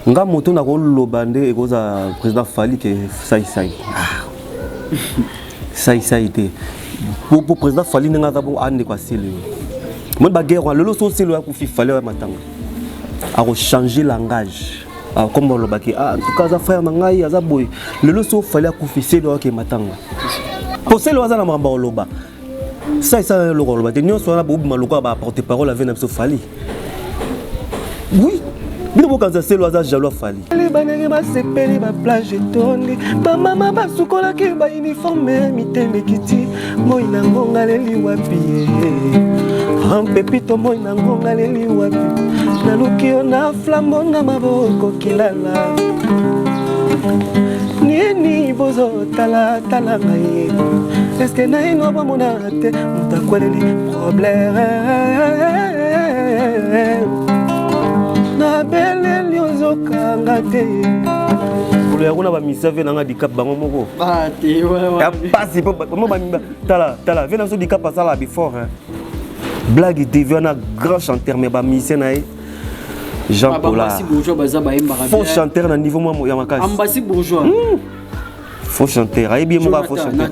nga moto na koloba nde ekozala président fali ke saisai ah. saisai te po président fali ndenge aza bongo andeko asili yo moni baguerre wana lelo so osili oya kufi fali oya matanga akochange langage akomba ah, olobaki ah, en tout cas aza frère na ngai aza boye lelo so fali akufi seli oyake matanga po seli oyo aza na makambo ya koloba sa esala eloko aloba te nyonso wana bobima lokola ba porte parole ave na biso fali oui bino bokanisa selo aza jaloux afali bandenge basepeli baplage etondi bamama basukolaki bauniforme mitema ekiti moi na ngonga leli wapi ampepito moi na ngonga leli wapi naluki yo na flambo na maboko kilala nini bozo tala tala ngai eske naino bamona te moto akweleli problème nabeleli ozokanga te mokolo ya kuna bamisa ve nanga dikap bango moko ah, ya mpasi tala tala ve naso dikap asala before blague devi wana grand chanteur mais bamise na ye jean ah, pola faux chanteur na niveau mwa ya makasi faux chanteur ayebi ye moko ya faux chanteur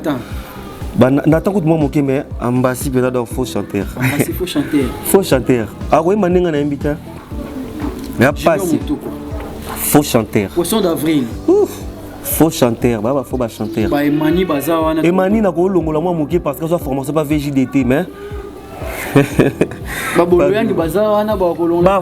natan kutu mwa moke me ambasi mpenza donc faux chanteur faux chanteur akoyemba ndenge na yembi te ya pasi faux chanteur poisson d'avril faux chanteur baba faux bachanteur baemani baza wana emani nakolongola mwa moke parce que azwa formation pa vjdt mais baboloyangi baza wana bakolongola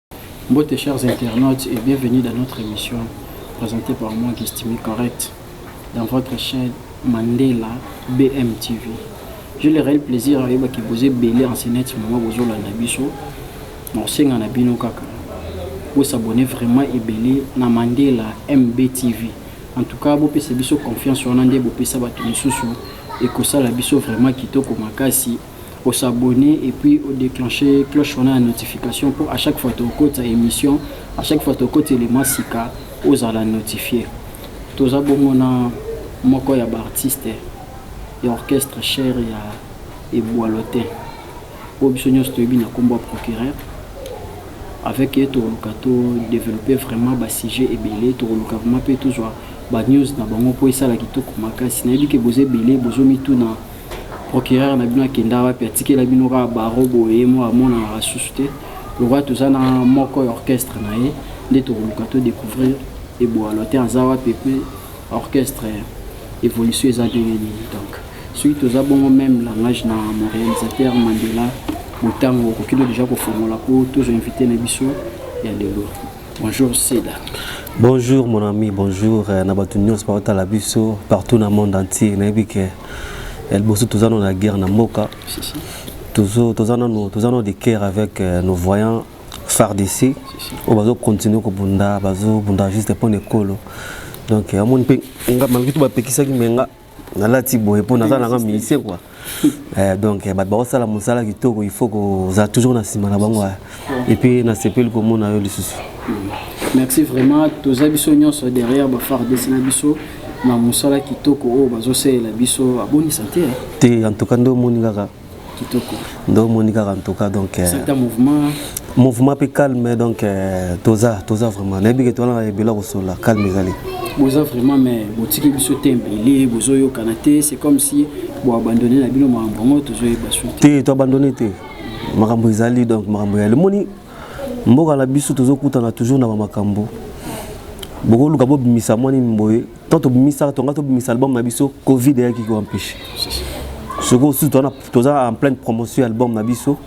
Mbote chers internautes et bienvenue dans notre émission présentée par moi Gestimi Correct dans votre chaîne Mandela BM TV. J'ai le réel plaisir ayeba ki boze belé en sénète mama bozo landa biso. Na osenga na bino kaka. Bo s'abonner vraiment ebelé na Mandela MB TV. En tout cas, bo pesa biso confiance wana nde bo pesa bato misusu ekosala biso vraiment kitoko makasi o s'abonner et puis o declencher cloche wana ya notification pour à chaque fois to kota émission à chaque fois to kota élément sika ozala notifier toza bongo na moko ya ba artiste ya orchestre cher ya ebwalotin oyo biso nyonso toyebi na nkombo ya procureur avec ye tokoluka to développer vraiment ba sujet ebele tokoluka vraiment mpe tozwa ba news na bango mpo esala kitoko makasi nayebi ke boza ebele bozomituna procureur na bino akenda wapi atikela bino kaka baro boye moko amonanaka lisusu te lokola toza na moko ya orchestre na ye nde tokoluka to découvrir eboalo te aza wapi mpe orchestre évolution eza ndenge nini donc soki toza bongo même langage na mon réalisateur mandela motango okoki no déjà kofongola mpo tozwa invité na biso ya lelo bonjour seda bonjour mon ami bonjour euh, na bato nyonso baotala biso partout na monde entier nayebi ke ya liboso toza no na guerre na mboka toza nano toza nano de guerre avec euh, nos voyants fardc oyo bazokontinue kobunda bazobunda juste mpo na ekolo donc amoni mpe nga malgré tout bapekisaki me nga nalati boye mpo naza nanga ministre kua eh, donc eh, bato bakosala mosala kitoko il faut kozala toujours na nsima na bango eh. et puis na sepeli komona yo lisusu merci vraiment toza biso nyonso derrière ba fardc na biso na mosala kitoko oyo bazosalela biso abonisa te te en tout cas nde omoni kaka kitoko nde omoni kaka en tout cas donc euh, certain mouvement mouvement mpe calme donc euh, toza toza vraiment nayebi ke towana ebela kosolola calme ezali boza vraiment mais botiki biso te mbele bozoyokana te c'est comme si boabandonne na bino makambo yango tozoyeba su te toabandonne te makambo ezali donc makambo ya lemoni mboka na biso tozokutana toujours na bamakambo bokoluka bobimisa mwa nini boye to tobimisaka tonga tobimisa album na biso covid eyaki koempeshe soki osusu toza en pleine promotion ya album na biso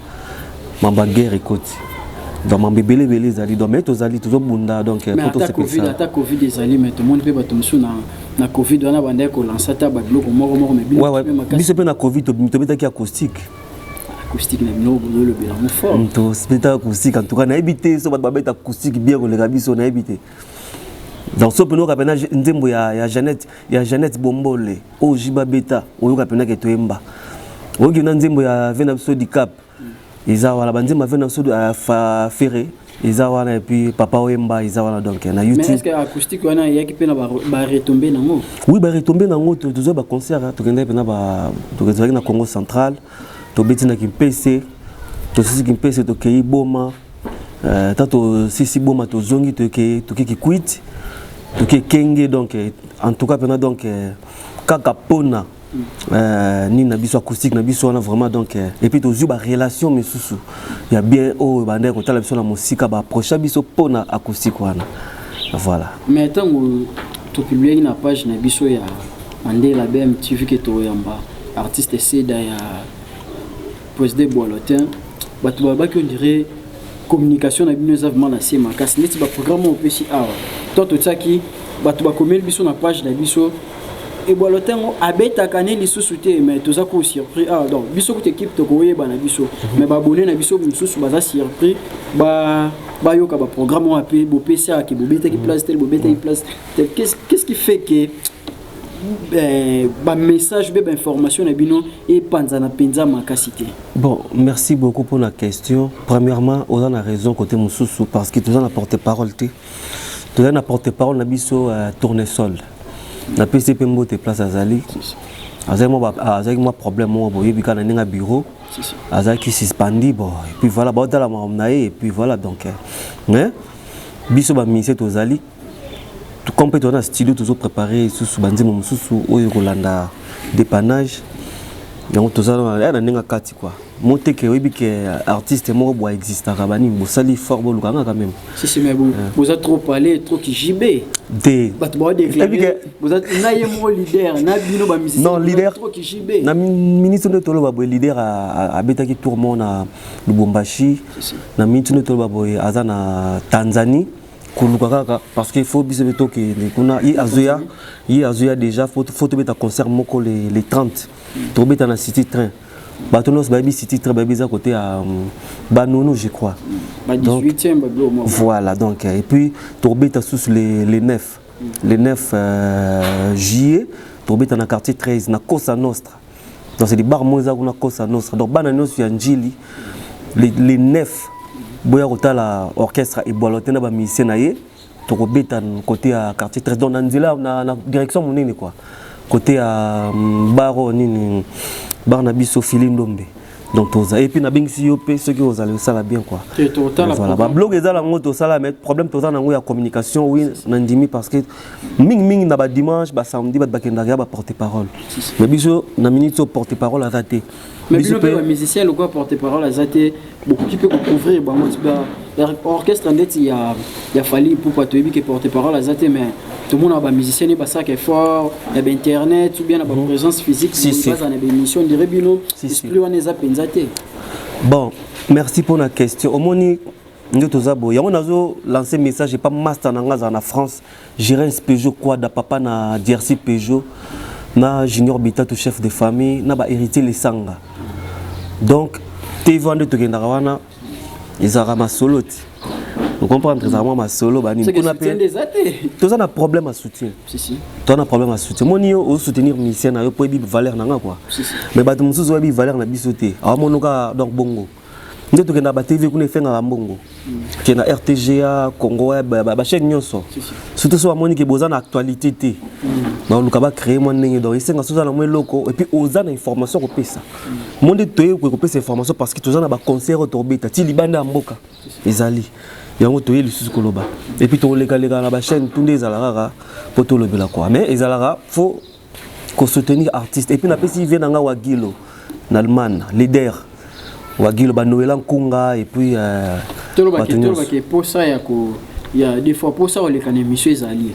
mambo ya guerre ekoti donc mambo ebele ebele ezali donc mai tozali tozobunda donc ata covid ezali mai tomoni mpe bato mosusu na na covid wana bandaki kolansa ata babiloko moko moko biso mpe na covid tobetaki acoustique acoustique na bino bozo lobela ngo fort mm, to speta acoustique en tout cas nayebi te so bato babeta acoustique bien koleka biso nayebi te donc so penoka pena nzembo ya, ya jeannette ya jeannette bombole oyo jiba beta oyoka pena ke toyemba oyoki na nzembo ya vena biso dicap eza wana banzembo ya vena biso ya ferre eza wana et puis papa oyemba eza wana donc na youtube mais est-ce que acoustique wana yaki pe na ba retomber nango oui ba retomber nango to tozo ba concert hein, tokenda pe na ba tokenda na Congo central to beti na Kimpese to sisi Kimpese to keyi boma euh tato sisi boma to zongi to ke to ke kikuit to ke kenge donc en tout cas pena donc euh, kaka pona Euh, nini na biso acoustique na biso wana vraiment donc euh, et puis tozwi ba relation misusu ya bien oyo bandaki kotala biso na mosika ba approcha biso mpo na acoustique wana voilà mais ntango topubliaki na page na biso ya mandela bmtv ke toyamba artiste seda ya President Boalotin, bato balobaki on dirait communication na bino eza vraiment na se makasi neti baprogramme oyo opesi awa to totiaki bato bakomeli biso na page na biso ebwalo ntango abetaka ne lisusu te mais toza ko surpris awa ah, donc biso kuta ekipe tokoyeba na biso mhm. mais babone na biso mosusu baza surpris ba bayoka baprogramme oyo ape bopesi ayaki bobetaki mhm. place tel bobetaki mhm. place tel qu'est ce qui fait que eh, ba message be ba information na bino epanzana penza makasi te bon merci beaucoup pour la question premièrement oza na raison côté mususu parce que toza na porte parole te toza na porte parole na biso uh, tournesol na pesi mpe mbote place azali azalaki mwa problème moko boyebi kaka na ndenge ya bureau azalaki suspendi bon epuis voilà baotalama na ye epuis voilà donc eh. mais biso baministre tozali comme mpe toza na studio tozo prépare lisusu banzembo mosusu oyo ekolanda dépannage yango toza na ndenge ya kati kua moteke oyebi ke artiste moko bwa existaka banini bosali fort boluka ngaka meme sisi mais bon euh. boza trop parler trop kijibe te bato bawa déclare boza na ye moko leader na bino ba musicien non leader trop kijibe na ministre nde toloba boye leader abetaki tour moko na lubumbashi na minute nde toloba boye aza na tanzanie koluka kaka parce que faut biso mpe tokende kuna ye azoya ye azoya déjà faut tobeta concert moko le, le 30 tokobeta na city train bato nyonso bayebi city train bayebi eza kote ya mm, banono je crois donc, voilà donc et puis tokobeta susu le, le 9 le 9 euh, juillet tokobeta na quartier 13 na cosa nostra donc c'est libar moko eza kuna costa nostra donc bana nyonso ya njili les, les neuf boya kotala orchestre ebwalo te na bamusicien na ye tokobeta kote ya quartier tres donc na nzela na, na direction monene kua kote ya mm, baro nini bar na biso fili ndombe donc toza epuis nabengisi yo mpe soki ozali osala bien quoi voilà bablog eza nango tosala mais problème toza nango ya communication wi nandimi parce que mingimingi na badimanche basamedi bato bakendaka ya baporte parole mais biso na minute oyo porte parole aza te mais bino mpe bamusicien lokola porte parole aza te bokoki mpe kocouvrir bango orchestre ndeti ya, ya fali ipupa toyebi ke porte parole aza te mais tomonaka bamusicien ne basalaka effort ya bainternet ou bien na baprésence mhm. physique baza na baémission ndire bino esprit wana eza mpenza te bon merci mpo na question omoni nde toza boye yango nazo lance message epa master na ngai azala na france gerence peugeot quada papa na drc peugeot na junior bitatu chef de famille na bahéritier lesanga donc tv wana nde tokendaka wana ezalaka masolo ti ocomprendre ezalaka mwa masolo banikuna mpe toza na problème ya soutien toza na problème ya soutien moni yo osoutenir misien na yo mpo oyebi valeur na nga kua mais bato mosusu oyebi valeur na biso te awamono kaka donc bongo nde tokenda ba tv kuna efengaka mbongo ke na rtga congo bachaine nyonso surtout so bamoni ke boza na actualité te baluka bacree mwa ndenge donc esenga soza na mwa eloko epuis oza na information kopesa mo nde toye koye kopesa information parce que toza na baconcert oyo tokobeta ti libanda ya mboka ezali yango toye lisusu koloba epuis tokolekaleka na bachaîne tu nde ezala kaka mpo tolobela kua mais ezalaka fo kosoutenir artiste epuis napesi vie na ngai wagilo na allemagne leader wagilo banoela nkunga epuis euh, tolobaki mposa ya ko ya des fois mposa koleka na émission ezali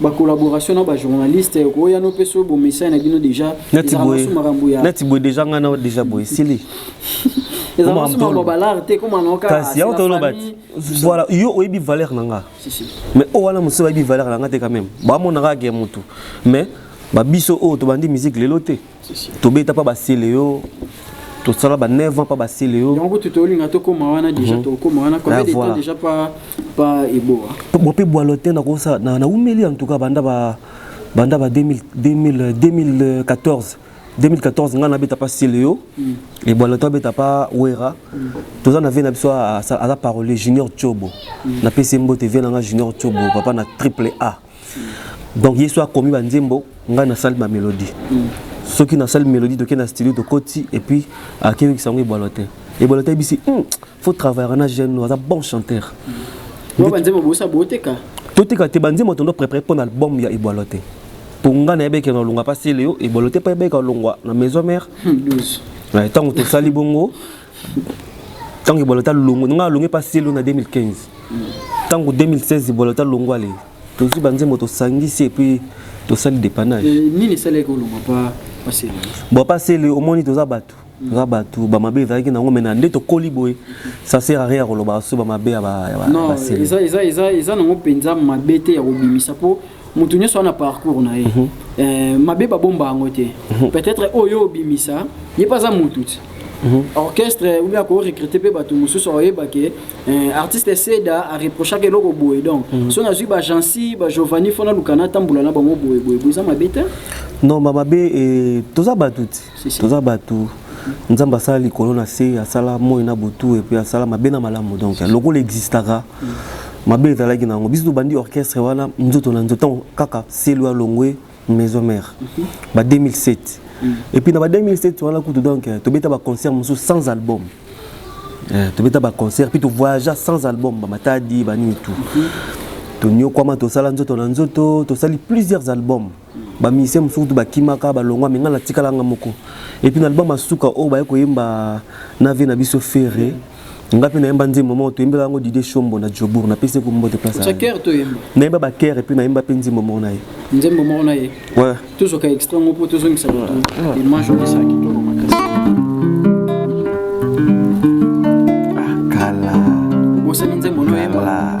ba collaboration na ba journaliste ko ya no peso bo message na bino déjà nati boye nati boye déjà nga na déjà boye sili eza masu ma balar te comme anoka kasi ya to lobat voilà yo oyebi valeur na nga mais o wana musu oyebi valeur na nga te quand même ba mona ka ke mutu mais ba biso oyo tobandi musique lelo te tobeta pa basele yo tosala ba 9 ans pa basele yo yango kutu tolinga tokoma wana deja mhm. tokoma wana combien ah, de temps deja pa pa eboa bo pe bwalo te nakosala na na umeli en tout cas banda ba banda ba 2000 2014 2014 ngai nabeta pa celeo mm. ebwalo to abeta pa wera mm. toza na vie na biso aza parole junior cobo mm. napesi mbote vie na ngai junior cobo papa na triple a donc yesu akomi banzembo ngai nasali bamelodie mm. soki nasali melodie toke na studio tokoti epuis akeyokisa yango ebwalo te ebwalo te ayebisi hmm, faut travaillera na jeune no aza bon chanteur mm. banzembo bosa boteka toteka te banzembo tondo prépare mpo na album ya ebwalo te mpo ngai nayebeke na olonga mpa seleo ebwalo te mpo ayebeke olongwa na maison mare ntango tosali bongo ntango ebolota longo nga alonge mpa selo na 2015 ntango 2016 ebolota longo ale tozwi banzembo tosangisi epuis tosali dépannage eh, nini esalaki olonga mpa pasele bon mpa sele omoni toza bato toza bato bamabe ezalaki nango mena nde tokoli boye ça sert à rien ya kolobaka so bamabe ya basele eza nango mpenza mabe te ya kobimisa mpo moto nyonso wana parcours na ye mm -hmm. euh, mabe babomba yango te mm -hmm. peut-être oyo obimisa ye mpe aza motu ti Mm -hmm. orchestre ou bien ko recruter pe bato mosusu oyeba ke eh, artiste seda a reprochaka eloko boye donc mm -hmm. so nazwi ba jansi ba giovanni fona lukana atambola na bango boye boye boza mabe te non ba mabe eh, toza bato ti toza bato nzambe asala likolo na se asala moi na butu epuis asala mabe na malamu donc lokola existaka mabe ezalaki na yango biso tobandi orchestre wana nzoto na nzoto kaka selo ya longwe maison mère mhm. ba 2007 mhm. et puis na ba 2007 wana kutu donc euh, tobeta ba concert mosusu sans album euh, tobeta ba concert puis tovoyagea sans album ba matadi banini tout mhm. tonyokwama tosala nzoto na nzoto tosali plusieurs albums ba musicien mosusu kutu bakimaka balongwa me ngai natikala nga moko epuis na album asuka oyo baye koyemba na vie na biso ferre ngai mpe nayemba nzembo moko toyembela yango dide shombo na jobour napesi eko mbote place nayemba bakere mpe nayemba mpe nzembo moko na ye nzembo moko na ye tozoka extra moko mpo tozongisa moto image olesa kitoko makasi ah, kala obosani nzembo noyemba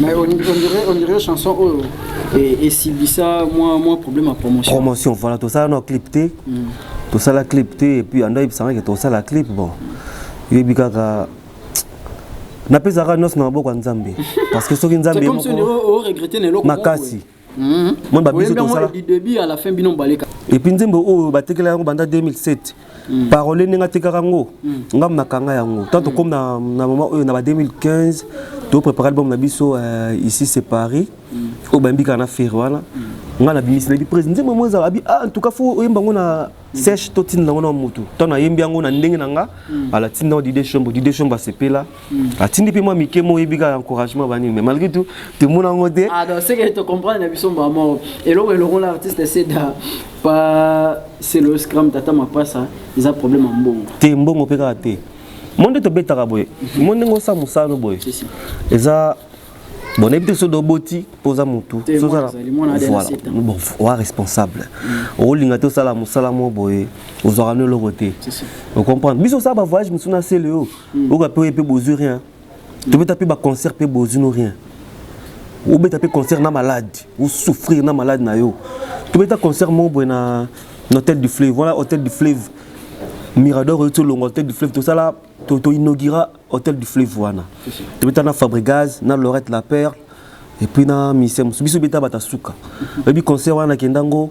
Mais on, on, dirait, on dirait chanson oyo et, et Sibissa, moi, moi problème à promotion. Promotion, voilà, tout ça, on a clip T. Mm. Tout ça, la clip T, et puis on a eu que tout ça, la clip, bon. Il y a eu kaka. Napesaka nyonso na maboko ya Nzambe. Parce que soki Nzambe moko. C'est comme si on regrettait na eloko. Makasi. Moko, moni babiso tosala epuis nzembo oyo batekela yango banda 2007 mm. parole ndenge atekaka yango mm. ngambo nakanga yango tant tokomi na mama oyo na ba 2015 toprépare album na biso euh, ici c'est paris mm. oyo bayembi kaka na fere wana ngai nabimisi nayebi prési nzembo yango ezala abi ah, en tout cas fo oyemba yango na sèche to tinda ngo na mutu to na yembi yango na ndenge na nga mm. ala tinda di des chambres di des chambres se pela mm. atindi pe moi mike mo yebi ka encouragement bani mais malgré tout te mona ngo te ah donc c'est que tu comprends na biso maman eloko eloko la artiste c'est da pas c'est le scrum tata ma pas ça ils a problème en mbongo te mbongo pe ka te monde to betaka boye monde ngo sa musano boye eza bon nayebi te soki oboti mpo oza motu oa responsable mm. olinga te osala mosala moko boye ozwaka no eloko te ocomprendre biso osala bavoyage mosusu na sele oyo mm. oyoka mpe oye mpe bozwi rien mm. tobeta mpe baconcert mpe bozwi no rien obeta mpe concert na malade osouffrir na malade na yo tobeta concert moko boye na hôtel du fleuve wana hôtel du fleuve mirador oyo ti olonga hôtel du fleuve tosala to, to inaugura hôtel du fleuve wana tobeta na Fabregas na Lorette la Perle et puis na mise mosusu biso beta bata suka oyebi concert wana nakenda ngo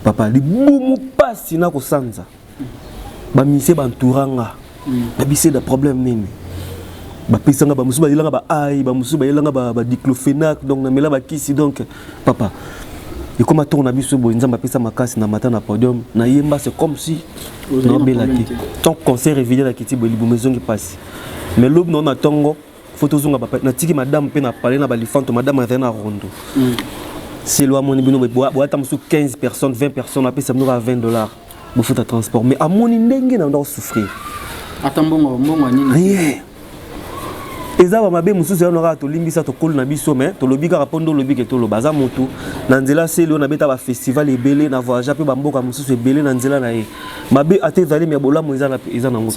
papa libumu mpasi na kosanza bamise bantoura nga na bise da problème nini bapesanga bamosusu bayelanga ba ai bamosusu bayelanga badiclofenac donc namela bakisi donc ba papa ekoma tour na biso boye nzambe apesa makasi na mata na podium na yemba c'est comme si nabela te tant concert evide na kiti boye libumu ezongi mpasi mais lobi nao na ntongo fo tozonga natiki madame mpe na pale na balifanto madame azali na rondo mm. selo amoni bino boyata mosusu 15 personnes 20 personnes apesa bino kaka 20 dollars bofuta transport mais amoni ndenge na ndako souffrir ata mbongo mbongo nini rien eza ba mabe mosusu yano kaka tolimbisa tokolo na biso mais tolobi kaka mpo nde olobi ke toloba aza motu na nzela seli oyo nabeta bafestival ebele na voyagea mpe bamboka mosusu ebele na nzela na ye mabe ata ezali me bolamu eza nango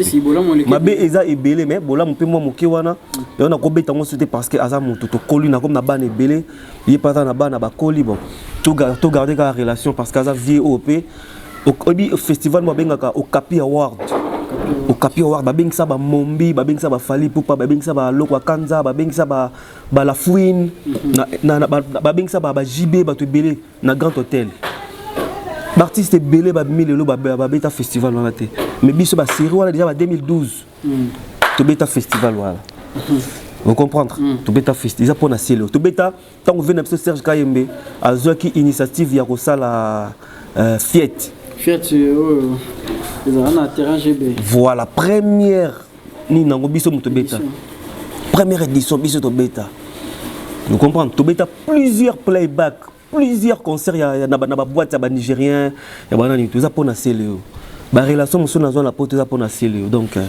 mabe eza ebele me bolamu mpe mwa moke wana mm. yango nakobeta yango so te parce que aza motu tokoli nakomi na bana ebele ye mpe aza na bana bakoli bon togarde kaka relation parce que aza vie oyo mpe oyebi festival mo abengaka okapi award okapi award babengisa bamombi babengisa bafali pupa babengisa balokwa kanza babengisa balafouine babengisa bajb bato ebele na grand hôtel baartiste ebele babimi lelo babeta festival wana te mais biso baserie wana deja ba 2012 mm. tobeta festival wana mm. ocomprendre mm. tobeta festi eza mpona selo tobeta Tango vena biso Serge Kayembe azwaki initiative ya kosala euh, fiette. Fiette euh, oyo oh, ezala na terrain GB. Voilà première nini nango biso moto beta. Première édition biso tobeta. Vous comprenez Tobeta plusieurs playback, plusieurs concerts ya, ya, na, na ba boîte ya ba Nigériens ya bana nini toza pona celeo ba relation mosusu nazwa na poto eza pona celeo donc euh,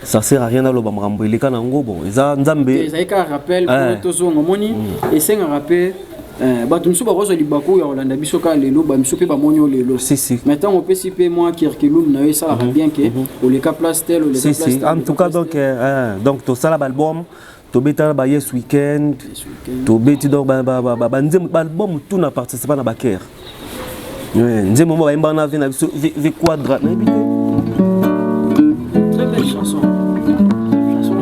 ça sert à rien aloba makambo eleka na yango bon eza nzambe ezali kaka rappel po eh. tozonga omoni mm. esengaka mpe eh, bato mosusu bakozwa libaku ya kolanda biso kaka lelo bamisu mpe bamoni yo lelo mai ntango opesi mpe mwa kirkilum na yo esalaka mhm. bien ke mhm. oleka place tel oleka place en tout cas donc eh, donc tosala baalbum tobetana ba yes weekend tobeti donc banzembo baalbum tout na participa na bakere nzembo mo bayemba wana ve na biso ve quadra nayebi te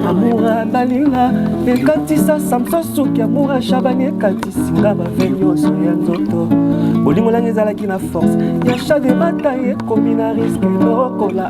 amura balinga ekatisa samson suki amura shabani ekatisi nga bave nyonso ya nzoto bolingo nanga ezalaki na force ya chademata ekomi na riske lokola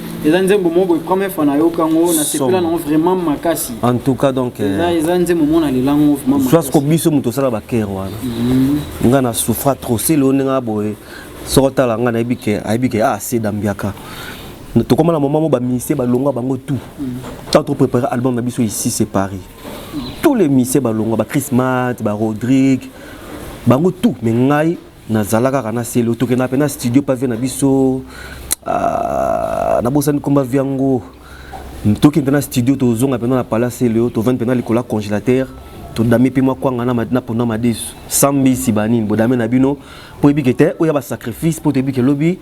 eza nzembo moko boye première fois nayoka yango nasepela nango vraiment makasi en tout cas donc euh, eza nzembo moko nalela yango vraiment soit ko biso moto osala bakere wana mhm. nga na souffra trop sele oyo ndenge boye soko otala nga nayebi ke ayebi ke ah se dambiaka tokoma na moment moko baministère balongwa bango tout mhm. tant to préparer album na biso ici c'est paris mhm. tous les ministères balongwa ba chrismat ba rodrigue bango tout mais ngai nazala kaka na selo tokendaka mpe na studio mpa vie na biso ah, nabosani komba vie yango toki mpe na studio tozonga mpenza na pala selo tovandi mpenza likolo ya congélateur todame mpe mwa kwanga na pona madesu sambisi banini bodame na bino mpo oyebike te oya basacrifice mpo toyebike lobi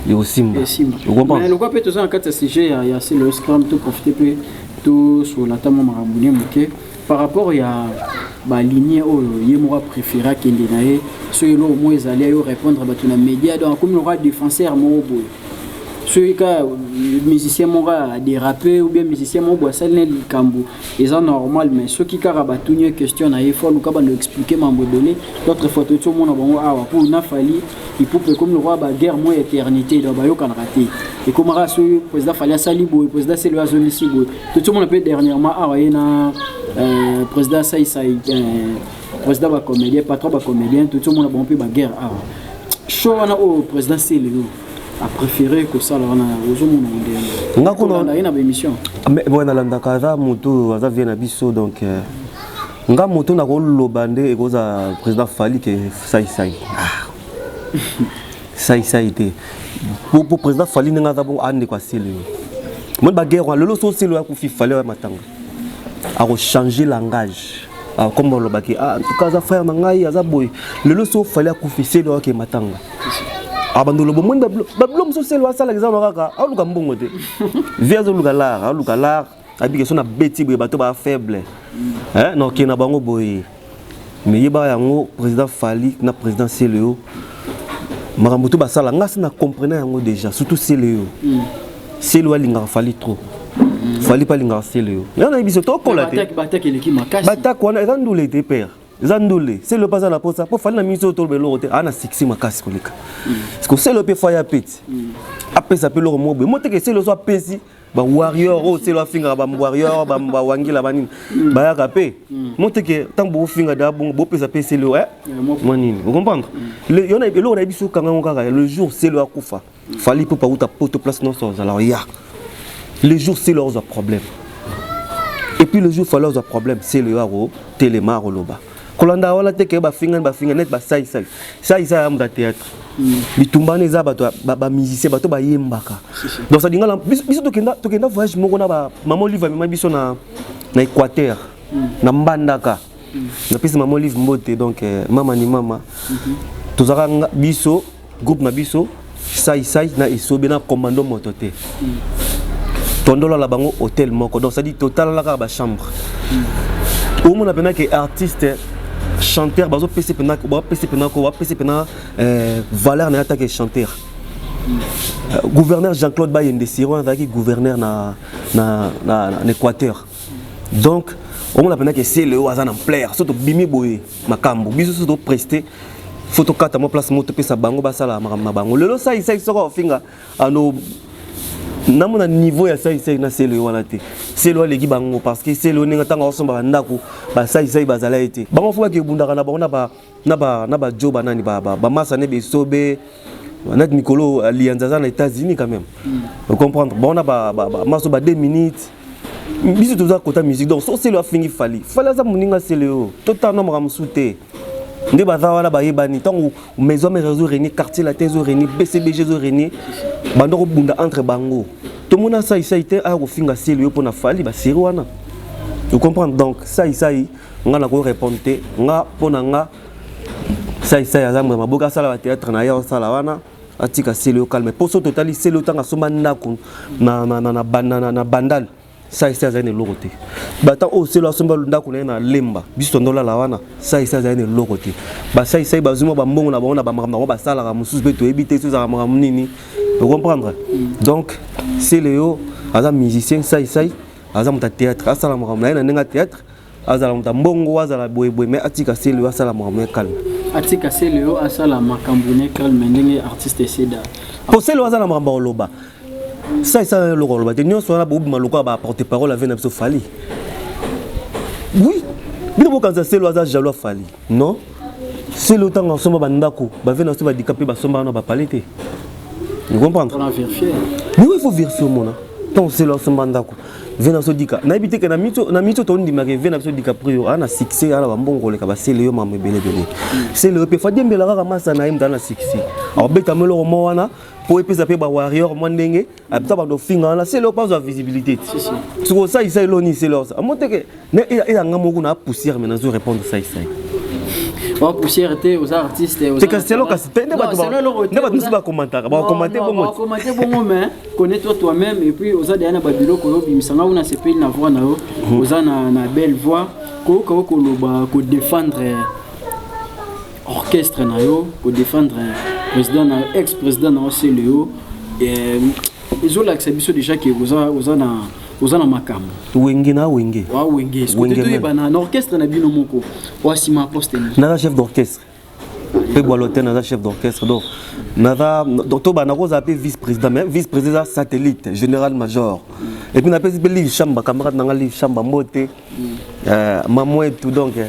ekosimba mais lokwa mpe toza na kati ya sujet ya, ya selo scram to profite mpe tosolola ata mwa makambo ne moke par rapport ya balinie oyo ye moko apréféré akende na ye so eloko moko ezali ayo répondre bato na média donc akomi lokola défenseur moko boye soki kaka musicien moko adérape ou bien musicien moko boye asali na likambo eza normal mais soki kaka batuni ye question na ye fo aluka bando expliquer mambo ebele d'autres fois toyoti omona bango awa mpo na fali ipupa ekomi lokola ba guerre moi éternité donc bayokanaka te ekomaka soki président fali asali boye président selo azongisi boye totomona mpe dernièrement awa ye na euh, président saisai euh, président bacomédien patron bacomédien totomona bango mpe baguerre awa show wana oyo président selelo apréféré kosala wana ozomona ndenge nga kuna ye na baémission mais boye nalandaka aza motu aza vie na biso donc euh, nga moto na koloba nde ekozala président fali ke saisai ah. saisai te po président fali ndenge aza bongo andeko asili yo moni baguerre wana lelo so osili oya kufi fali oya matanga akochange langage akomba ah, olobaki ah, en tout cas aza frère na ngai aza boye lelo so fali akufi seli oyake matanga abanda ah, oloba omoni babilo mosusu seli asalaka eza na kaka aoluka mbongo te vi azoluka lar aoluka lar abi keso na beti boye bato ba faible eh na okende na bango boye mais yeba yango président Fally na président Celeo makambo to basala nga si na comprena yango déjà surtout Celeo mm. Celeo alingaka Fally trop mm. Fally pa alingaka Celeo nga na biso tokola te bataki wana eza ndule te père eza ndule Celeo pa aza na posa po Fally na mingi oyo toloba eloko te aa na succès makasi koleka mm. parce que Celeo pe faya peti apesa pe eloko moko boye moteke Celeo so apesi ba warrior oyo oh, selo afingaka ba warrior ba ba wangila ba nini hmm. bayaka pe hmm. moteke ntango bofinga da bongo bopesa pe selo eh, eh mwa nini vous comprendre hmm. yona eloko na ye biso kanga yango kaka le jour selo akufa fali mpo pauta poto place nyonso ozala ya le jour selo ozwa problème et puis le jour fali ozwa problème selo yako telema akoloba kolanda wana te ke bafingani bafinga neti basai sai sai sai ya moto ya théâtre mm. bitumba wana eza bato bamusicien bato bayembaka donc ça lingala biso tokenda voyage moko na bamama olive amema biso na équateur mm. na mbandaka mm. napesi mama olive mbote donc eh, mama ni mama mm-hmm. tozalaka biso groupe na biso sai sai na esobe na commando moto te tondolala bango hotel moko donc cestadi totalala kaka bachambre mm. omona mpena ke artiste chanteur bazopesa mpena bapesa mpena ko bapesa mpena eh, valeur na ye atake chanteur mm. euh, gouverneur jean-claude bayende siron azalaki gouverneur na, na, na, na, na équateur donc omona mpena ke seleo aza na mplaire so tobimi boye makambo biso so topreste fo tokata mwa place moko topesa bango basala makambo na bango lelo saisai soko afinga ano namona niveau ya saisai na selo ye wana te selo aleki bango parce que selo ndenge ntango aosomba bandako basaisai bazala ye te bango fo bake ebundaka na bango na bajo banani bamasa ne besobe na mikolo aliyanza aza na états-unis quand même hmm. ocomprendre bango na maso ba 2 minutes biso toza kota musique donc so selo afingi fali fali aza moninga selo yo totana makambo mosusu te nde baza wana bayebani ntango maison mère ezo renie quartier latin ezo renie bcbg ezo renie banda kobunda entre bango tomona saisai te aya kofinga selo yo mpo na fali baseri wana vous comprendre donc saisai nga nakoki répondre te nga mpo na nga saisai aza mbuya maboki asala batéâtre na ye asala wana atika seleo calme mpo soki totali seleo ntango asomba ndako na, na, na, na, na, na, na bandal saisi azali na eloko te bata oyo selo asomba ndako na ye na lemba biso tondolala wana saisi azali na eloko te basaisai bazwi mwa bambongo na bango na bamakambo yango basalaka mosusu mpe toyebi te sozalaka makambo nini ocomprendre donc seleo aza musicien saisai aza moto ya théâtre asala makambo na ye na ndenge ya théâtre azala moto ya mbongo azala boyeboye me atika selio asala makambo ya calme atika selio asala makambo na calme ndenge artiste eseda mpo selio aza na makambo ya koloba sa esala eloko koloba te nyonso wana bobima lokola baporte parole avie na biso fali oui bino bokanisa selo aza jaloux afali non selo ntango asomba bandako bave na biso badika mpe basomba wana bapale te comprendre il faut vérifier omona ntango selo asomba ndako vena biso dika nayebi te ke na miso na miso tondimaka vena biso dika prio ana succès ana bambongo oleka basele yo mama ebele ebele sele yo mpe fadiembela kaka masa na ye moto ana succès aobetama eloko mwa wana mpo epesa mpe bawarrior mwa ndenge abisa bando ofinga wana sele yo mpe azwa visibilité soki osalisa eloni sele osa amoteke Mais il y a un moment où on a poussé, mais on a répondu ça ici. ba poussière te oza artiste oza tika selo kasi te nde bato nde bato mosusu bakomantaka bakomante bongo bakomante bongo mais connais toi toi même et puis oza deya na babiloko oyo obimisa ngai kuna sepeli na voix na yo mhm. oza na na belle voix koyoka yo koloba kodefendre orchestre na yo kodefendre président na ex président na yo seleo ezolakisa biso déjà ke oza oza na oza na makambo wenge na wenge wa wenge wenge toyeba na orchestre na bino moko wa sima poste ni naza chef d'orchestre mpe bwalote naza chef d'orchestre donc naza donc toba nakozala mpe vice président mais vice président eza satellite général major mm. et puis napesi mpe live chamba camarade na nga live chamba mbote mm. euh, mamo etu donc euh,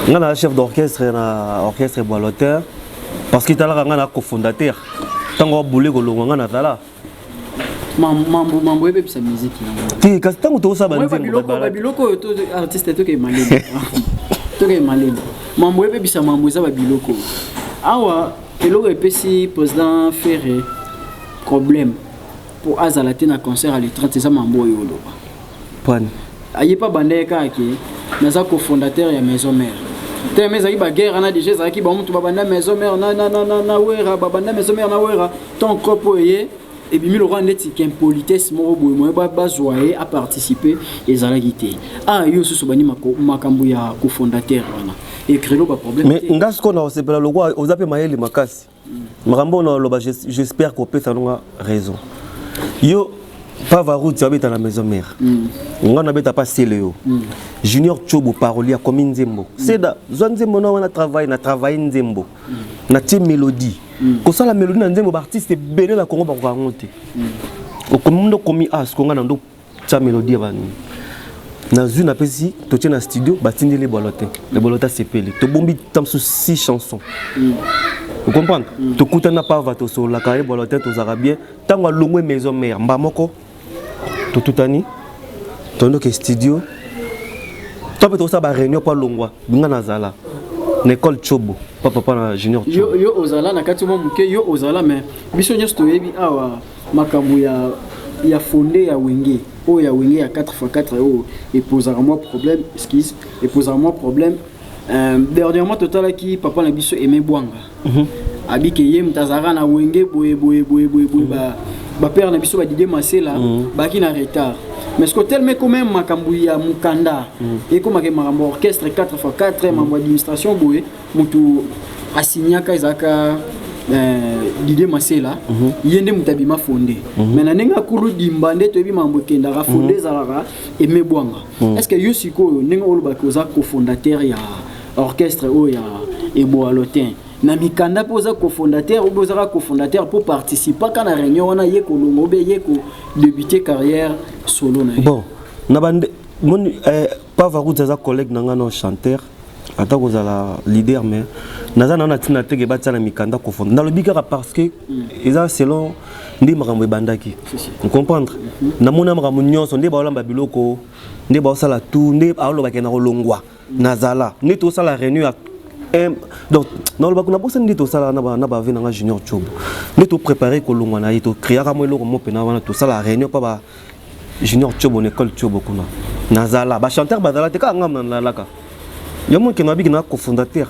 nga naza chef d'orchestre na orchestre bwaloteur parce que etalaka nga na cofondateur ntango abule kolongwa nga nazala mambo mambo ebebisa miziki te kasi ntango tokosala babiloko oyo to artiste tokei malele tokei malele mambo ebebisa mambo eza babiloko awa eloko epesi président ferre problème mpo azala te na concert ya le 30 eza mambo oyo oloba Pan. Aye pe abanda ye kaka ke naza cofondateur ya maison mère. Tellement ezalaki ba guerre wana dejà ezalaki ba mutu babanda maison mère na na na na, na Werra babanda maison mère na Werra tant cop oyo eye ebimi lokola ndeti qu'impolitesse moko boye moye bazwa ye a participer ezalaki te. Ah yo susu bandi makambo ya cofondateur wana. Ekrelo ba problème te. Mais nga siko na osepela lokola oza pe mayele makasi. makambo na loba j'espère ko pesa nonga raison yo pa varouti abeta na maison mère mm. nga nabeta pa sele yo mm. junior chobo paroli akomi nzembo mm. seda zwa nzembo na wana travaille na travaille nzembo mm. natie mélodie mm. kosala mélodie na nzembo baartiste ebele na congo bakoka yango te mm. okomi ndo komi asko ah, nga na ndo tya melodie bani nazwi napesi totye na studio batindeli ebolo te ebolo te asepeli tobombi ta mosusu si chanson mm. ocomprendre mm. tokutani na pava tosololaka ebolo te tozalaka bien ntango alongwe maison mare mba moko totutani tondoke studio to mpe tokosala baréunion mpo alongwa binga nazala na ekole cobo pa papa na junior yo ozala na kati mwa moke yo ozala me biso nyonso toyebi awa Makambo ya ya fonde ya wenge oyo ya wenge ya 4x4 oyo epozaka mwa problème excuse epozaka mwa problème euh, dernièrement totalaki papa na biso aimé bwanga mm -hmm. abike ye moto azalaka na wenge boye boye boye boye boye mm -hmm. ba bapere na biso badidie masela mm. baki na retard mais ce telema ekoma ya makambo ya mokanda mm. ekomaka makambo orchestre 4x4 makambo administration boye mutu asignaka ezalaka Eh, Didier Masela mhm. ye nde moto abima fonde mhm. mais na ndenge akulu dimba nde toyebi makambo ekendaka fonde mhm. ezalaka eme bwanga est ce que yo sikoyo ndenge olobaki oza cofondateur ya orchestre oyo ya eboalo te na mikanda mpo oza cofondateur obe ozaka cofondateur mpo participaka na réunion wana ye kolongo obe ye kodebute carrière solo na ye bon na bande moni eh, Pa Varuti aza collègue na nga no chanteur ata kozala leader mais naza na na tina teke batia na mikanda confondre nalobi kaka parce que eza selon nde makambo ebandaki comprendre mhm. namona makambo nyonso nde baolamba biloko nde baosala tout nde aolobake na kolongwa nazala nde tosala réunion ya donc nalobaka nabosani nde tosala na bave na nga junior job nde toprépare kolongwa na ye tocreaka mwa eloko mo mpena wana tosala réunion mpa junior tiobo na ekole tiobo kuna nazala bachanteur bazala te kaka ngai nalalaka yo moke na biki na cofondateur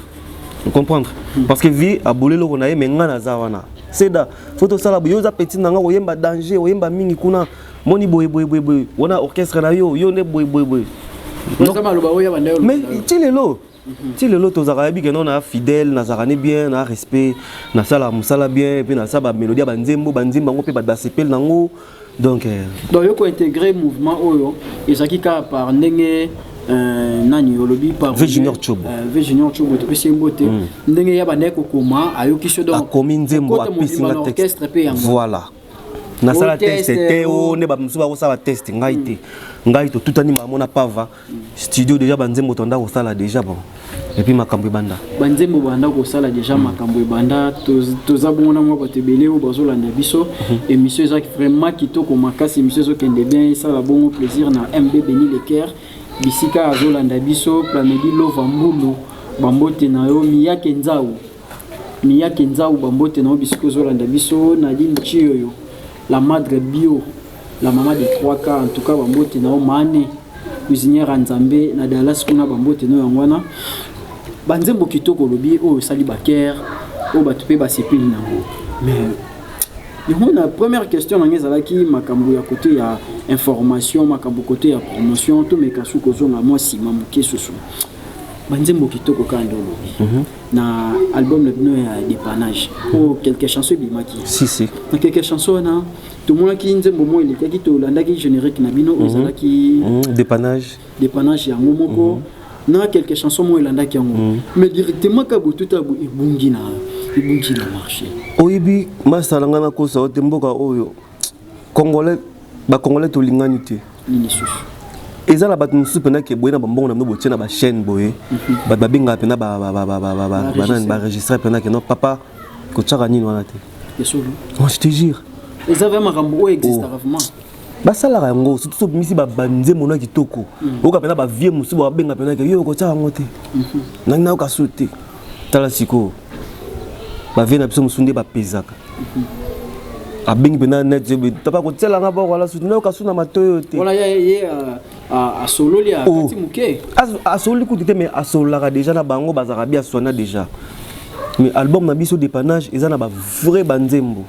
comprendre hmm. parce que vie aboli eloko na ye me ngai naza wana seda fo tosala boye oza petit na ngai oyemba danger oyemba mingi kuna moni boye boye boye boye wana orchestre na yo yo nde boye boye boye mais ti lelo ti lelo tozalaka yebi keno na fidèle nazalaka ne bien na respect nasalaka mosala bien mpe nasala bamélodie ya banzembo banzembo yango mpe bato basepeli nango donc euh, donc yo kointegre mouvement oyo ezalaki kaka par ndenge Euh, nani olobi pavjunior cobo euh, vjunior cobo topesi ye mbote mm. ndenge ya bandaki kokoma ayoki so akomi nzembo apesi nga texte voilà nasala teste te o nde bamosusu bakosala teste ngai te mm. ngai totutani bango na pava studio deja banzembo tonda kosala deja bon epuis makambo ebanda banzembo banda kosala deja mm. makambo ebanda toza bongo na mwa bato ebele oyo bazolanda biso mhm. émission ezaki vraiment kitoko makasi émission ezokende bien esala bongo plaisir na mb beni lecaire bisika azolanda biso planedi lova mbulu bambote na yo miyake nzau miyake nzau bambote na yo bisika ozolanda biso nadine chioyo la madre bio La maman de 3K en tout cas bambote na yo mane cuisinière ya Nzambe na Dallas kuna bambote no yango wana banzembo kitoko olobi oyo osali baker oyo bato mpe basepeli na yango mais yango na première question nanga ezalaki makambo ya kote ya information makambo kote ya promotion tomeka su kozonga mwa nsima moke susu banzembo kitoko kaka nde olobi mm -hmm. na album na bino ya dépannage oyo mm -hmm. quelque chanson ebimaki si, si. na quelque chanson wana tomonaki nzembo moko elekaki tolandaki générique na bino oyo mhm. ezalaki mhm. dépannage dépannage yango moko mhm. na quelques chansons moko elandaki yango mais directement ka botuta ebungi na ebungi na marché oyebi masala ngai nakosa ote mboka oyo congolais bacongolais tolingani te nini lisusu eza na bato mosusu mpenza ke boye na bambongo na bino botie na bachaîne boye bato babengaka mpenza banani baregistre mpenza ke no papa kotiaka nini wana te je te jure eza vra makambo oyo existaka oh. vraiment basalaka yango surtout sobimisi babanze mona kitoko mm. oyoka mpena bavie mosusu babenga mpena ke yo okotia yango te mm-hmm. nangi nayoka su te tala sikoyo bavie na biso mosusu nde bapezaka mm-hmm. abengi mpena net papa kotiela nga boko ala suti nayoka su na matoyo te Ah, asololi akati oh. moke asololi kutu te mais asololaka déjà na bango bazalaka bi aswana déjà mais album na biso dépannage eza na bavrai banzembo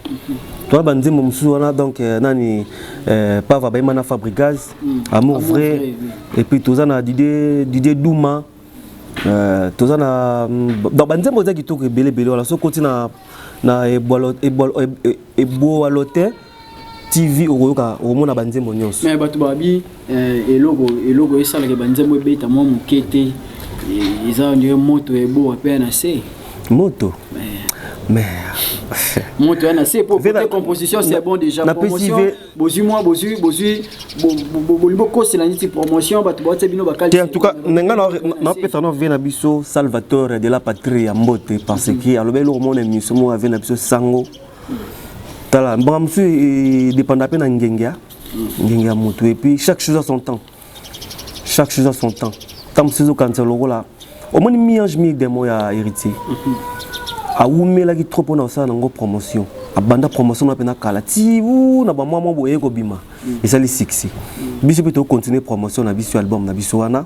toa banzembo mosusu wana donc euh, nani euh, pava bayemba na fabrigaz mm. amour vrai et puis toza na didie didie duma euh, toza na mm, donc banzembo eza kitoko ebele ebele wana soki oti na na eboalote TV okoyoka okomona ba nzembo nyonso. Mais bato babi eh, eloko eloko esalaka ba nzembo ebeta mwa moke te eh, eza ndio moto eboa pe na se. Moto. Eh. Mais moto yana se po pe composition c'est bon déjà promotion bozui moi bozui bozui bolimbo kosela niti promotion bato baotia bino bakali en tout cas nenga na pesa na vie na biso Salvatore de la patrie ya mbote parce mhm. que alobi eloko mona émission moko ave na biso sango tala mbanga mosusu edépenda mpe na ngenge ya ngenge ya motu et puis chaque chose à son temps chaque chose à son temps ntango mosusu ezokanisa lokola omoni mi ange mi demo ya héritier awumelaki trop mpo na kosala nango promotion abanda promotion na mpena kala ti u na bamwa mwa boye kobima esali succès biso mpe tokocontinue promotion na biso album na biso wana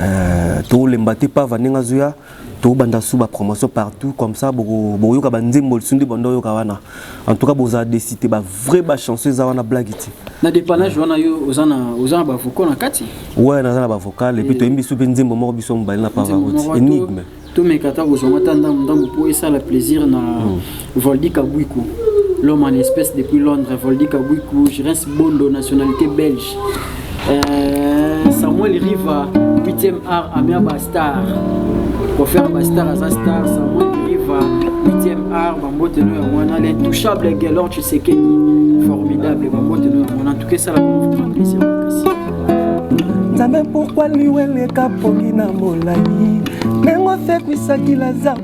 euh, tolemba te pava ndenge azoya tobanda su ba promotion partout comme ça bokoyoka banzembo lisu nde banda oyoka wana en tout cas bozala desite ba vrai ba chanson eza wana blague te na dépannage wana yo oza na oza na bavocal na kati ouais naza na bavocal epuis toyembi biso mpe nzembo moko biso mobali na pavarote énigme tomeka ata kozwanga ata ndambo ndambo mpo esala plaisir na hmm. Voldy Kabwiku, l'homme en espèce depuis Londres, Voldy Kabwiku, je reste Bondo, nationalité belge. Euh, Samuel Riva, 8e art, Amia Bastar. Pour faire Bastar, Aza Star, Samuel Riva, 8e art, Bambote no Yamwana, l'intouchable Gaylor Tshisekedi, formidable, Bambote no Yamwana, en tout cas, ça la confirme, plaisir, merci. Nzambe pourquoi liweleka pongi na molai ndenge osekwisaki lazaro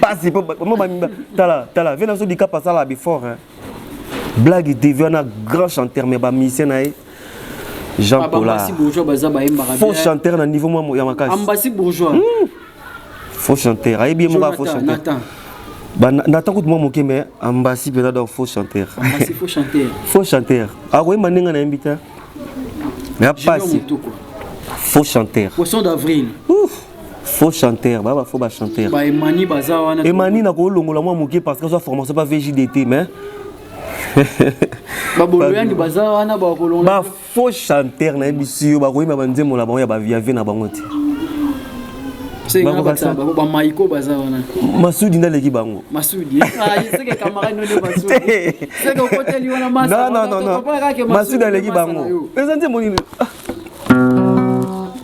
pasi po mo ba tala tala vena so dikapa sala before hein blague TV wana grand chanteur mais ba musicien na ye Jean Paula faux chanteur na niveau moi ya makasi ambassy bourgeois hmm. faux chanteur ayebi ye moko ya faux chanteur natan kutu mwa moke me ambasi mpenza donc faux chanteur faux chanteur akoyemba ndenge na yembi te ya pasi faux chanteur poisson d'avril faux chanteur baba faux ba chanteur ba emani baza wana emani na kolongola mwa moke parce que soit formation pas VJDT mais baboloyani baza wana bakolongola ba faux chanteur na yebisi yo bakoyemba ba nzembo na bango ya ba via vie na bango te bamaiko baza wana masudi nde aleki bango masudi aleki bango eza nzembo nini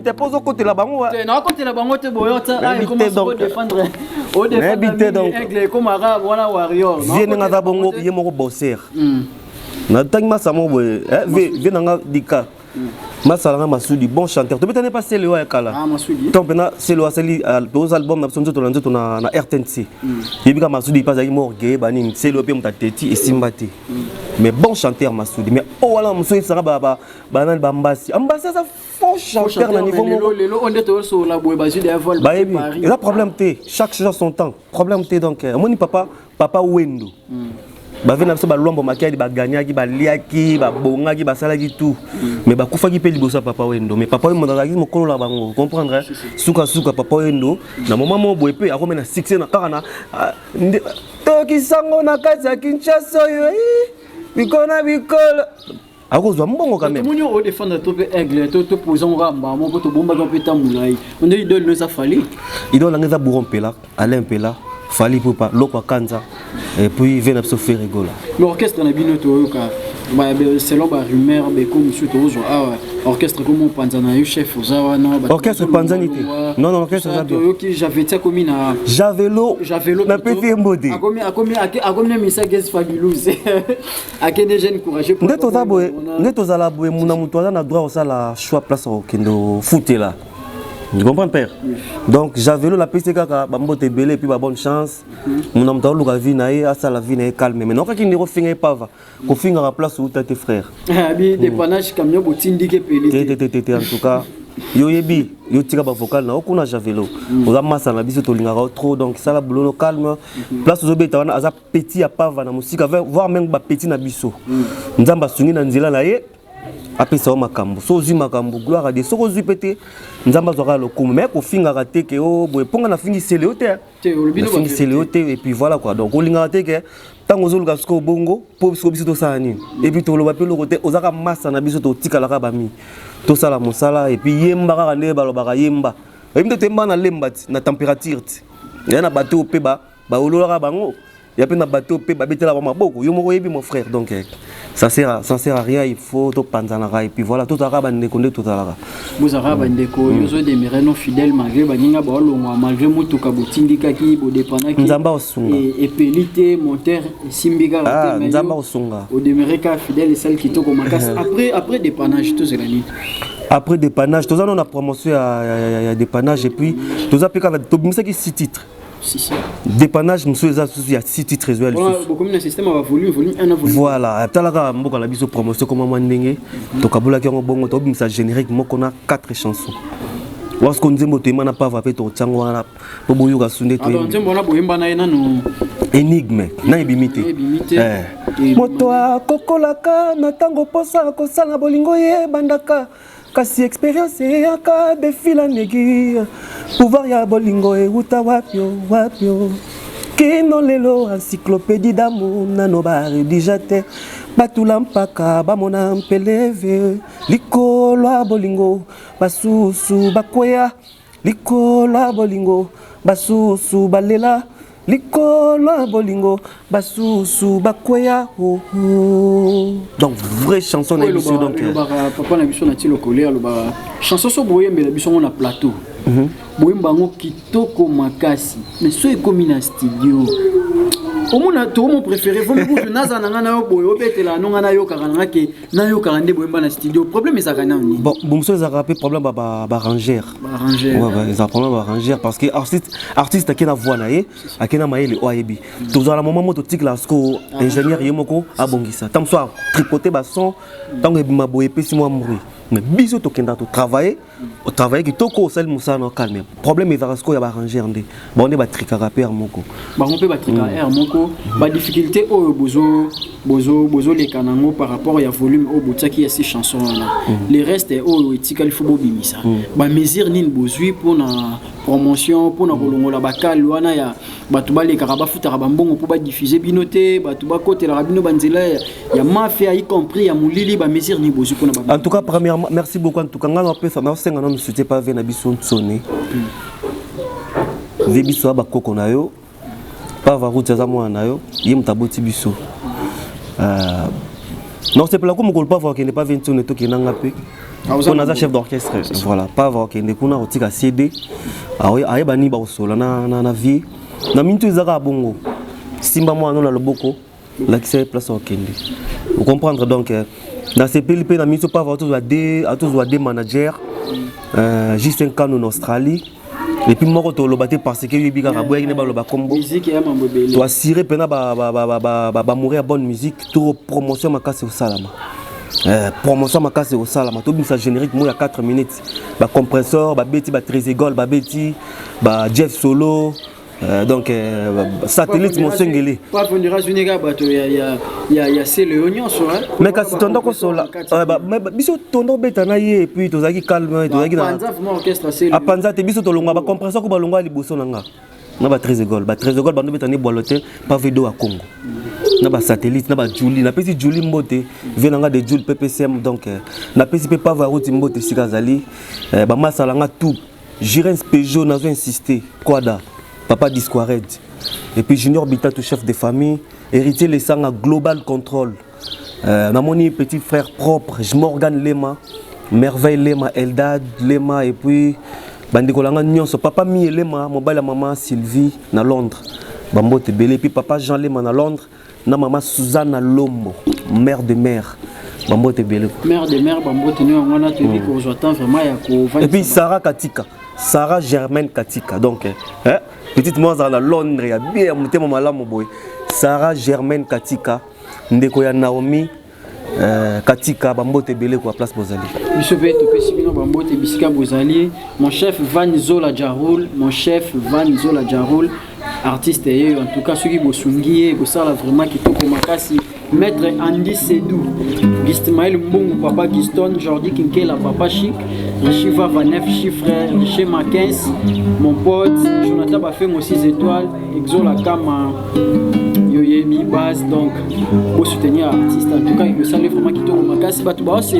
te mpo ozokotela bango nakotela bango te boyonayebi te donkekomaka wana warrior vie ndenge aza bongo ye moko bosser hmm. natangi masa moko boye eh, vie nanga dika hmm. masalanga masudi bon chanteur tobetani mpa selo ya kala ah, to mpena selo asali ah, toza album na biso nzoto na nzoto na rtnc hmm. yebika masudi mpe azalaki morgeye banini selo mpe moto ateti esimba te mais bon chanteur masudi mais oyo oh, wana mosusu esanga banani bambasi ambasi aza faux chanteur na niveau moko lelo on est tous sur la boue bazui des vols ba yebi eza problème te chaque chose son temps problème te donc euh, moni papa papa wendo hmm. bave na biso balwambo makiadi baganyaki baliaki babongaki basalaki tout hmm. mais bakufaki mpe liboso ya papa wendo mais papa wendo azalaki mokolo na bango comprendre sukasuka papa wendo na moma moko boye mpe akomi na succès na kaka na ah, tokisango na kati ya kinshasa oyo eh, bikolo na bikolo akozwa mbongo quand même moni o défendre to pe aigle to to poser ngo kamba moko to bomba to pe tambula yi on dit idole no ça fallait idole ngeza bouro mpela Alain mpela Fally Poupa loko akanza et puis vena biso faire rigola l'orchestre na bino to yoka selon ba rumeur be ko musu to zo awa orchestre ko mopanza na yo chef oza wana orchestre panzani te non non orchestre za bien yo ki j'avais tia komi na javelo javelo na petit mbodi akomi akomi akomi misa guest fabulouse nde toza boye nde tozala boye muna moto aza na droit osala choix place okende ofutela tu comprends père donc javelo napesi kaka bambote ebele epuis babonne chance muna moto aoluka vie na ye asala vie na ye calme mai nokaki ndenge ofinga ye pava kofingaka place outa te frère ah, te en tout cas yo oyebi yo tika bavocal na yo kuna javelo oza masa na biso tolingaka yo trop donc sala bulono calme place ozobeta wana aza petit ya pava na mosika voir meme ba petit na biso mm. nzambe asungi na nzela na ye apesa yo makambo so ozwi makambo gloire ade soki ozwi mpe te nzambe azwaka lokumu mai kofingaka te ke o oh, boye mpo nga nafingisele yo te nafingisele yo te epuis voilà quoi donc olingaka te ke ntango ozoluka sikoyo bongo mpo siko biso tosala nini epuis toloba mpe eloko te ozaka masa na biso totikalaka bami tosala mosala epuis yemba kaka nde balobaka yemba oyebi nde toyemba na lemba ti na température ti ya na bato oyo mpe ba Baololaka bango ya pe na bateau pe babetela ba maboko yo moko yebi mon frère donc eh, ça sert à, ça sert à rien il faut to panzanaka et puis voilà to tozalaka ba ndeko nde tozalaka bozalaka ba ndeko yo zo demeurer non fidèle malgré ba ninga ba olongwa malgré mutuka botindikaki bodepanaki nzamba osunga et peli te monteur simbika ah nzamba osunga au demeurer ka fidèle celle qui to komakasi après après dépannage tout cela ni après dépannage toza no na promotion ya ya ya dépannage et puis toza pe kaka tobimisaki six titres dépannage mosusu eza susu ya city trésor lisusubokomi na système ya bavolume volume 1 volume voilà atalaka mboka na biso promotion koma mwa ndenge mhm. tokabolaki yango bongo tobimisa générique moko na 4 chansons wasko nzembo toyemba na pava mpe totya yango wana mpo boyoka su nde toyembanzembo wana boyemba na ye nanu énigme na ebimi te eh. moto akokolaka na ntango mposa kosala bolingo ye ebandaka kasi experience eyaka defila negi pouvoir ya bolingo ewuta wapio wapio kino lelo encyclopédie d'amour nano baredija te batula mpaka bamona mpeleve likolo ya bolingo basusu bakweya Likola bolingo basusu balela likolo ya bolingo basusu bakweya donc vraie chanson na biso donc euh, papa na biso na ti lokole alobaka chanson so boyembela biso ngo na plateau mhm. boyemba yango kitoko makasi mais so ekomi na studio omona tomo préféré vomi kutu naza na ngai na yo boye obetela yango ngai nayokaka na ngai ke nayokaka nde boyemba na studio problème ezalaka nao nini bon bomoso ezalaka mpe problème barangere ezalaka problème barangere parce que artiste artiste ake na voix na ye ake na mayele oyo ayebi tozala moment moko totikela siko ingénieur ye moko abongisa ntango so atripote bason ntango ebima boye epesi mwa mbri mais biso tokendaka totravaille au travail kitoko osali musala na calme problème ezaka siko ya ba ranger nde ba onde ba trikaka père moko ba ngompe ba trikaka mm. air moko ba difficulté oyo bozo bozo bozo leka nango par rapport ya volume oyo botiaki ya si chanson wana mm. les restes oyo etikali faut bobimisa mm. ba mesure nini bozui pona promotion pona kolongola ba kale wana ya bato balekaka bafutaka bambongo mpo badifuse bino te bato bakotelaka bino banzela ya mafia y compris ya molili bamesure nini bozwi mpona ba en tout cas premièrement merci beaucoup en tout cas ngai napesa nasenga nano soutien pa vie na biso nsoni vie biso ya bakoko na yo pa varuti aza mwana na yo ye moto aboti biso euh, nakosepela ko mokolo pa vakende pa vie nsoni tokenda nga mpe mpo naza chef d'orchestre voilà pavre akende kuna kotika cd ayeba nini bakosola na vie na mintu eza kaka bongo simba mwana na loboko lakisa ye place okende ocomprendre donc euh, nasepeli mpe na miso pavre atozwa de manager euh, juste un canon na australie epuis moko toloba te parce que oyebi kaka boyaki nde baloba kombo toassire mpena bamouri ya bonne musique to promotion makasi kosalama Euh, promotion makasi ekosalama tobimisa générique moi ya 4 minutes bacompressor babeti batresegol babeti ba jeff solo Euh, donc euh, satellite mosengeli mais kasi tonda kosola biso tonda obeta na ye epuis tozalaki calme tozalaki apanza te biso tolongwa bacompresa ko balongwa liboso na nga na ba tresegol ba tresegol bando betani bwalo te pave do ya congo na ba satellite na ba juli napesi juli mbote vie na nga de juli ppcm donc euh, napesi mpe pave ya roti mbote esika azali bamasala nga tout Jirens Peugeot nazo insister Quada Papa Disquared et puis Junior Bitatu chef de famille Héritier Lesanga Global Control euh, namoni petit frère propre Morgan Lema Merveille Lema Eldad Lema et puis bandeko na ngai nyonso papa mi elema mobali ya mama sylvie na londres bambote ebele epuis papa jean lema na londres na mama Suzana Lombo mère de mère bambote ebele ko mère de mère bambote nio yango wana toyebi hmm. kozwa temps vraiment ya kovanda epuis Sarah Katika Sarah Germaine Katika donc eh, eh petite moi azala na Londres ya bie ya motema malamu boye Sarah Germaine Katika ndeko ya Naomi Euh, katika bambote ebele kwa place bozali biso mpe topesi bino bambote bisika bozali mon chef van zola jarol mon chef van zola jarol artiste ye en tout cas soki bosungi ye kosala vraiment kitoko makasi maître andy sedou gismael mbongo papa giston jordi kinkela papa chic rishiva vanef chiffre riche makens mon pote jonathan bafengo 6 étoiles Exola kama yoyebi base donc bo soutenir artiste en tout cas ekosali vraiment kitoko makasi bato bao se,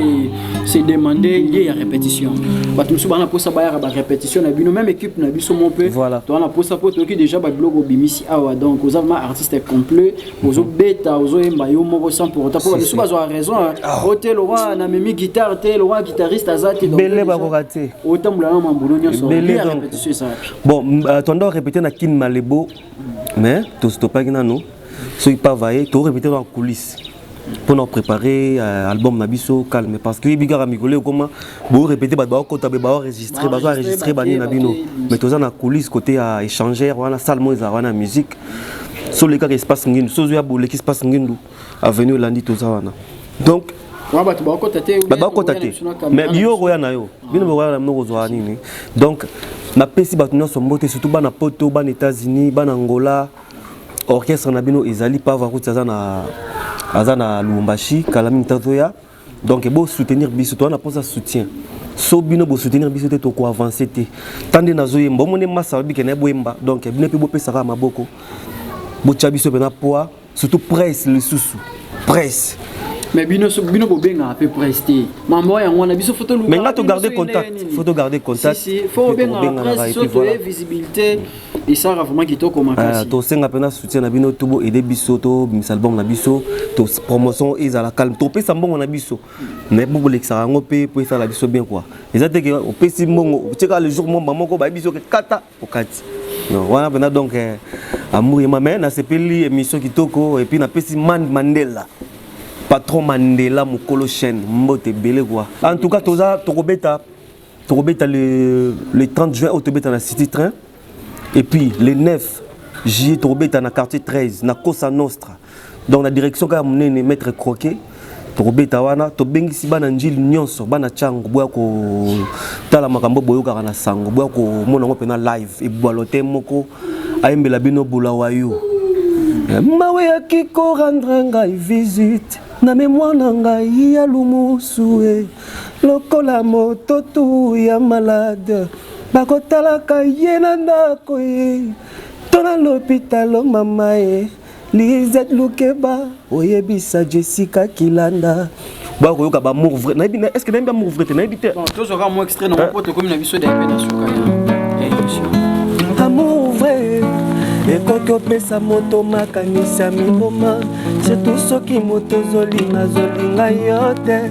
se demande lie ya répétition bato mosusu bana mposa bayaka barépétition na bino même équipe na biso mo mpe voilà. toana mposa mpo toyoki déjà babiloko obimisi awa donc oza vraiment artiste complet ozobeta ozoyemba yo moko sans pour autant mpo bamisusu bazwa raison ah. o te lokola na memi guitare te lokola guitariste aza te bele bakoka te otambola na mambulo nyonso lie ya répétition ezalaki Bon, euh, tu dois répéter na kin malebo, mais tu stoppaki nano. Ce qui pas vaillé, tu répéter dans la coulisse. Pour nous préparer euh, album na biso calme parce que biga ka mikolo koma bo répéter ba ba ko tabe ba enregistrer ba enregistrer ba ni na bino mais tu na coulisse côté à échanger wana salle moins wana musique sur les cas espace ngindu sozo ya boleki espace ngindu avenue olandi toza wana donc bato bakota te bakota te mais yo okoya na yo bino bokoya na bino kozwa nini donc napesi bato nyonso mbote surtout bana poto bana états-unis bana angola orchestre na bino ezali pavo akuti aza na aza na lubumbashi kala mingi tazoya donc bo soutenir biso toza na mposa soutien so bino bo soutenir biso te toko avancer te ta nde nazoyemba omoni masa babike na ye boyemba donc bino mpe bopesaka maboko botya biso mpe na poids surtout presse lisusu presse mais bino so bino bobengaka mpe presse te mambo yango wana biso foto mais nga to garder contact foto garder contact si si fo obengaka presse so toye visibilité esaka vraiment kitoko ah, makasi tosenga mpena soutien na bino tobo aide biso tobimisa album na biso to promotion ezala calme topesa mbongo na biso mais mpo bolekisaka yango mpe mpo esala biso bien quoi eza te ke opesi mbongo otieka le jour momba moko bayebi biso ke kata okati wana mpena donc eh, amour yema mais nasepeli émission kitoko epuis napesi man mandela patron mandela mokolo chaîne mbote ebele quoi en tout cas toza tokobeta tokobeta le, le 30 juin oyo tobeta na city train et puis le 9 juillet tokobeta na quartier 13 na cosa nostra donc na direction kaka monene maître croquet tokobeta wana tobengisi bana njili nyonso bana ntango boya kotala makambo boyokaka na sango boya komona yango mpena live ebwalo te moko ayembela bino bolawa yo mawe ya kikorandra ngai visite na memoire na ngai ya lumusu e lokola moto tu ya malade bakotalaka ye na ndako ye to na lopitalo mama ye lizet lukeba oyebisa jessica kilanda ba koyoka ba amour vrai nayebi est ce que nayebi amour vrai te nayebi te tozwa kaka mwa extrait nango mpo tokomi na biso dape na suka ya émission amour vrai ekoki opesa moto makanisi ya miboma surtout soki moto ozolinga azolinga yo te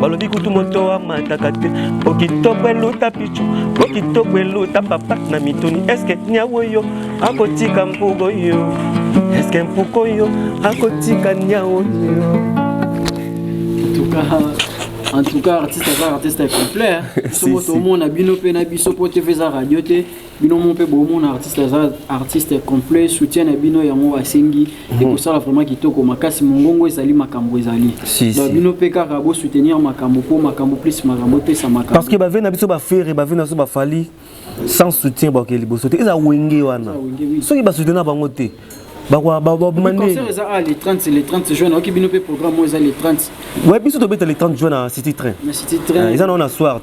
balobi kutu moto amataka te po kitoko eluta pichu po kitoko eluta papa na mituni eske niawo yo akotika mpugo yo eske mpuko yo akotika niawo yo en tout cas artiste aza artiste complet soki tomona bino mpe na biso mpo tv eza radio te bino mo mpe bomona artiste aza artiste complet soutien na bino yango asengi mhm. ekosala vraiment kitoko makasi mongongo ezali makambo ezali donc bino mpe kaka bosoutenir makambo mpo makambo plus makambo epesa makambo parce que bave na biso bafere bave na biso bafali sans soutien baoke liboso te eza wenge wana soki basoutenir bango te le 30 le 30 juin nayoki bino mpe programme oyo eza le 30 we biso tobeta le 30 juin na city train eza nao na soir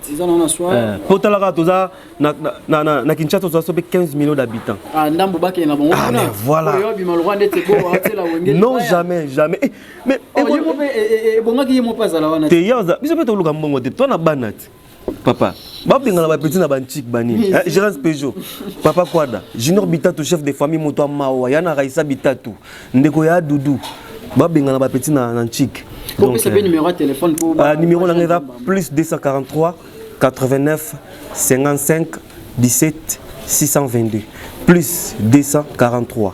mpo talaka toza na, na, na, na, na Kinshasa tozwa sobe 15 millions d'habitants. Ah ndambo bakende na bango. Ah mais voilà. Oyo bima lokola ndete ko atela wenge. Non jamais jamais. Eh, mais oh, eh, yemo pe eh, eh, eh, bongaki yemo pa zala wana. Te yaza biso pe toluka mbongo te. Toi na banati. Papa, babengana ba petit na ba chic bani. Eh, Gérance Peugeot. Papa Kwada, Junior Bitatu chef de famille moto mawa, yana Raisa Bitatu, ndeko ya Doudou. Babengana ba petit na na chic. Donc, euh, ah, numéro na plus 243 89 55 17 622 plus 243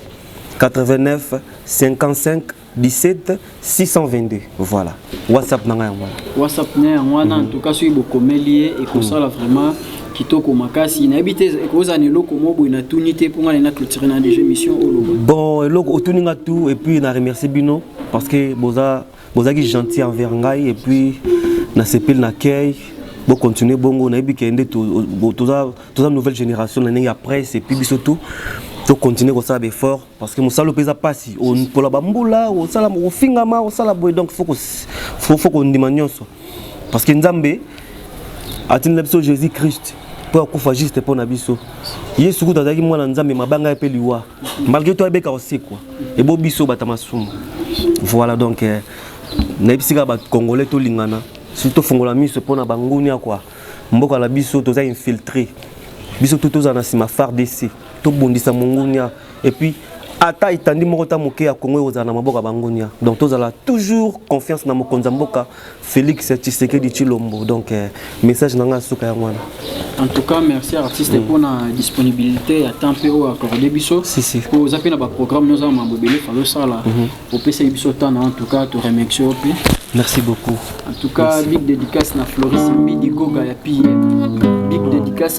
89 55 17 622 voilà whatsapp na ngai yango wana whatsapp na yango wana en tout cas soki bokomeli ye ekosala mm. vraiment kitoko makasi nayebi te ekozala na eloko moko boye natuni te mpo ngai na clôture na déjà émission oloba bon eloko otuni nga tout et puis na remercie bino parce que boza bon, bozalaki gentil envers ngai et puis na sepeli na kei bo continuer bongo nayebi ke nde toza toza nouvelle génération na ndenge ya presse et puis biso tout to continuer kosala baeffort parce que mosala mpe eza mpasi mpola bambula osala ofingama osala boye donc fo kondima nyonso parce que nzambe atindela biso jésus christ mpo akufa juste mpo na biso yesu kutu azalaki mwana nzambe mabanga ye mpe liwa malgré toi ebeka osekwa ebo biso bata masumu voilà donc eh, nayebisi kaka bacongolais tolingana surtout tofongola miso mpo na bangunia kua mboka na biso toza infiltré biso tu tozala na nsima fardc tobundisa mongunia epuis ata etandi moko ta moke ya kongo ekozala na maboko ya bangunia donc tozala toujours confiance na mokonzi ya mboka Felix Tshisekedi Chilombo donc euh, message nanga suka yango wana en tout cas merci artiste mm. pour la disponibilité ya temps mpe oyo accordé biso si, si. po oza mpe na baprogramme oza na mambo ebele fali osala mm -hmm. opesaki biso temps na en tout cas to remercie yo mpe merci beaucoup en tout cas merci. big dédicace na floris mbidi goga ya pm big mm. dédicace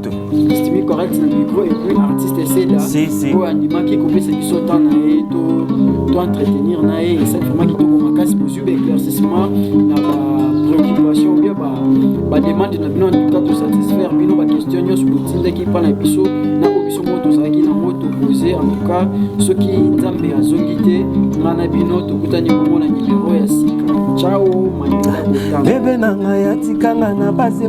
Stimi correct na micro et puis artiste Seda si, si. oyo andimaki kopesa biso temps na ye to to entretenir na ye esali vraiment kitoko makasi bozwi ba éclaircissement na ba préoccupation ou bien ba ba demande na bino en tout cas to satisfaire bino ba question nyonso botindaki epa na biso na oyo biso moko tozalaki nango topose en tout cas soki nzambe azongi te nga na bino tokutani bongo na nimero ya sika ciao manila bebe na ngai atikanga na base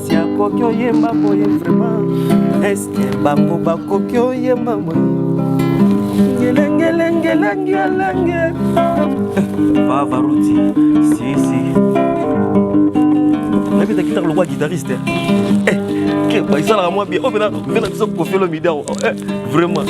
kasi akoki oyemba boye vraiment eske bango bakoki oyemba boye ngelengelengelengelenge vavaruti sisi nayebi eza kitaka lokola guitariste eh, eh, basalaka mwa bie oyo oh, mpena biso kofelo midiao eh, vraiment